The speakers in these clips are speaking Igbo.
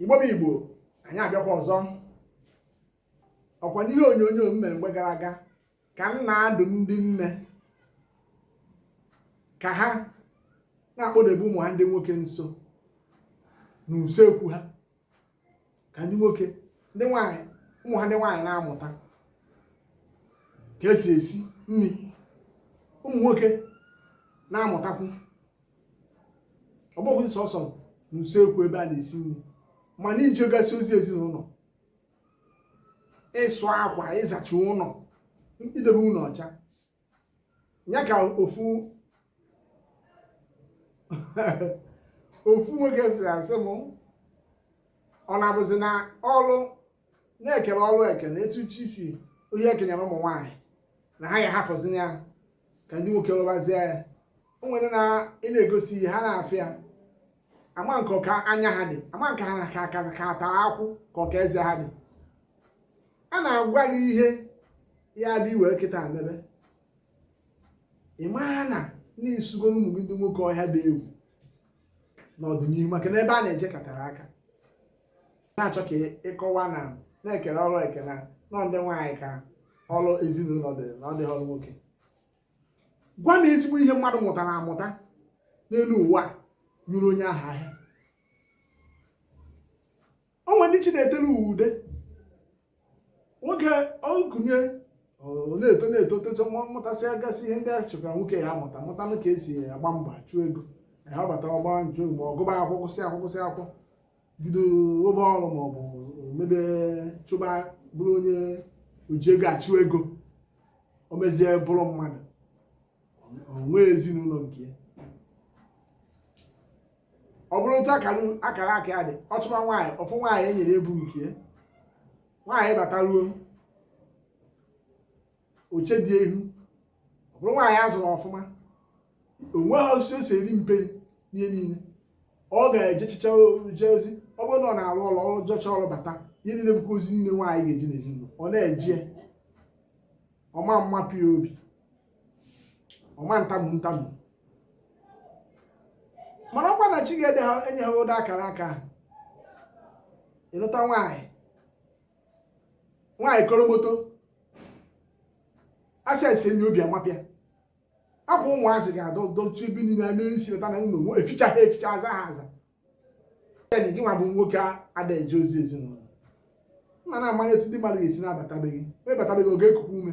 igbo bụ igbo anyị abịakwa ọzọ ọkwa n'ihe onyonyo m mere mgbe gara aga ka m na-adụ ndị nne ka ha na-akpọdebe ụmụ ha ndị nwoke nso n'usekwu ha ka ndị nwoke ndị nwaanyị ụmụ ha ndị nwaanyị na-amụta ka esi esi nri ụmụ nwoke na-amụtakwu ọ bụghị sọsọ n'usekwu ebe a na-esi nri ma na ijegasị ozi ezinụlọ ịsụ akwa ịzacha ụlọ idebe ụlọ ọcha ya ka ofu ofu nwoke asị m ọ na-abụzi na ọlụ na e kele ọlụ eke etu chi si onye e kenyere ụmụ nwaanyị na ha ga-ahapụzi ya ka ndị nwoke lụbazie ya o nwere na ị na-egosi ihe ha na-afịa ya ama nke ọka anya ha dị ama nke ha ka ka ka ata akụ ka ọka eze ha dị a na-agwa gị ihe ya bụ iwe kịta mebe ị mara na i sugoro ụmụ gị ndị nwoke ọhịa dị egwu n'ọdịnihu maka na ebe a na-eje ka tere aka na-achọ ka ịkọwa na na e kele ọrụ eke na ọ ndị nwaanyị ka ọrụ ezinụlọ dị na ọ dịghị ọrụ nwoke gwa m ezigbo ihe mmadụ mụtara amụta n'elu ụwa nyụrụ onye ahụ ahịa o nwere ndị chi na-etere ụwa ude nwoke ọkụnye na-eto na-eto toto mụtasịa gasị ihe ndị a chọkwara nwoke ya amụta mụtanụ ka esi agba mbọ achụ ego ya ọ bata ọgba njụ ma ọ gụba akwụkwọ gụsịa akwụkwọ gụsịa akwụkwọ bido rụba ọrụ ma ọ bụ mebe chụba bụrụ onye oji ego achụ ego o mezie bụrụ mmadụ o nwee ezinụlọ nke ya ọ bụrụ otu akara akara aka ya dị ọ chụba nwaanyị ọ fụ nwaanyị e nyere ebu nke ya nwaanyị bataruo o chee di ya ihu ọ bụrụ nwaanyị a zụrụ ọfụma o nwehọ osi o si eri mperi n'ihe niile ọ ga-ejechicha eje ozi ọ bụrụ na ọ na-arụ ọrụ ọ jechaa ọrụ bata ihe niile bụkwa ozi niile nwaanyị ga-eje n'ezinụlọ ọ na-eje ọ ma mmapụ ya obi ọ ma ntamu ntamu mana ọkwa na chi ga-ede ha enye ha ụdị akara aka ahụ ịlụta nwaanyị nwaanyị koromoto a sị sie nri obi amapụ ya akwa ụmụazị ga-adọdọchi ebe niile a na-esi ụta na ụlọ eficha ha eficha aza ha aza gị nwa bụ nwoke ada eje ozi ezinụlọ nna na-amanye etu ndị mmadụ ga-esi na-abata be gị a bata be gị oge ekuku ume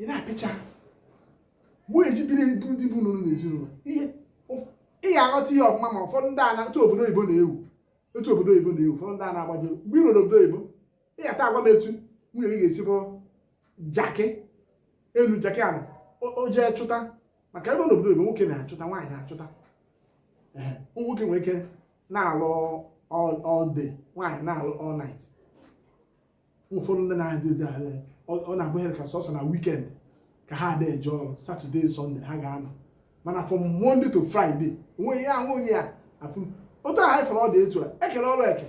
ị na-apịcha mgbe onye ji biri ebu ndị bụ n'ụlọ n'ezinụlọ ihe ị ga-aghọta ihe ọfụma ma ụfọdụ ndị ana otu obodo oyibo na-ewu otu obodo oyibo na-ewu ụfọdụ ndị a na-agbaji mgbe ị nọ n'obodo oyibo ị ga-ata agwa m etu nwunye gị ga-esi bụrụ jakị elu jakị ala o jee chụta maka ebe n'obodo oyibo nwoke na-achụta nwaanyị na-achụta nwoke nwere ike na-alụ all day nwaanyị na-alụ all night ụfọdụ ndị na-adị ozi ahụ ọ na-abụghị ka sọsọ na weekend ka ha ada eje ọrụ Saturday Sunday ha ga-anọ mana from Monday to Friday o nweghị ya ahụ onye ya afụ otu ahụ fọrọ ọ dị etu a e kele ọrụ eke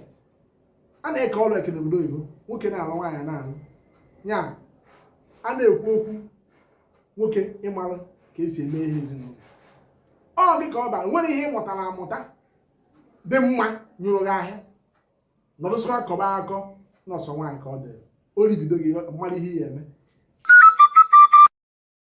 a na-eke ọrụ eke n'obodo oyibo nwoke na-alụ nwaanyị na-alụ ya a na-ekwu okwu nwoke ịmalụ ka e si eme ihe ezinụlọ ọ dị ka ọ bara o nwere ihe ị mụtara amụta dị mma nyụrụ gị ahịa nọdụsịa akọba akọ na ọ sọ nwaanyị ka ọ dịrị o ribido gị ị mara ihe ị ya-eme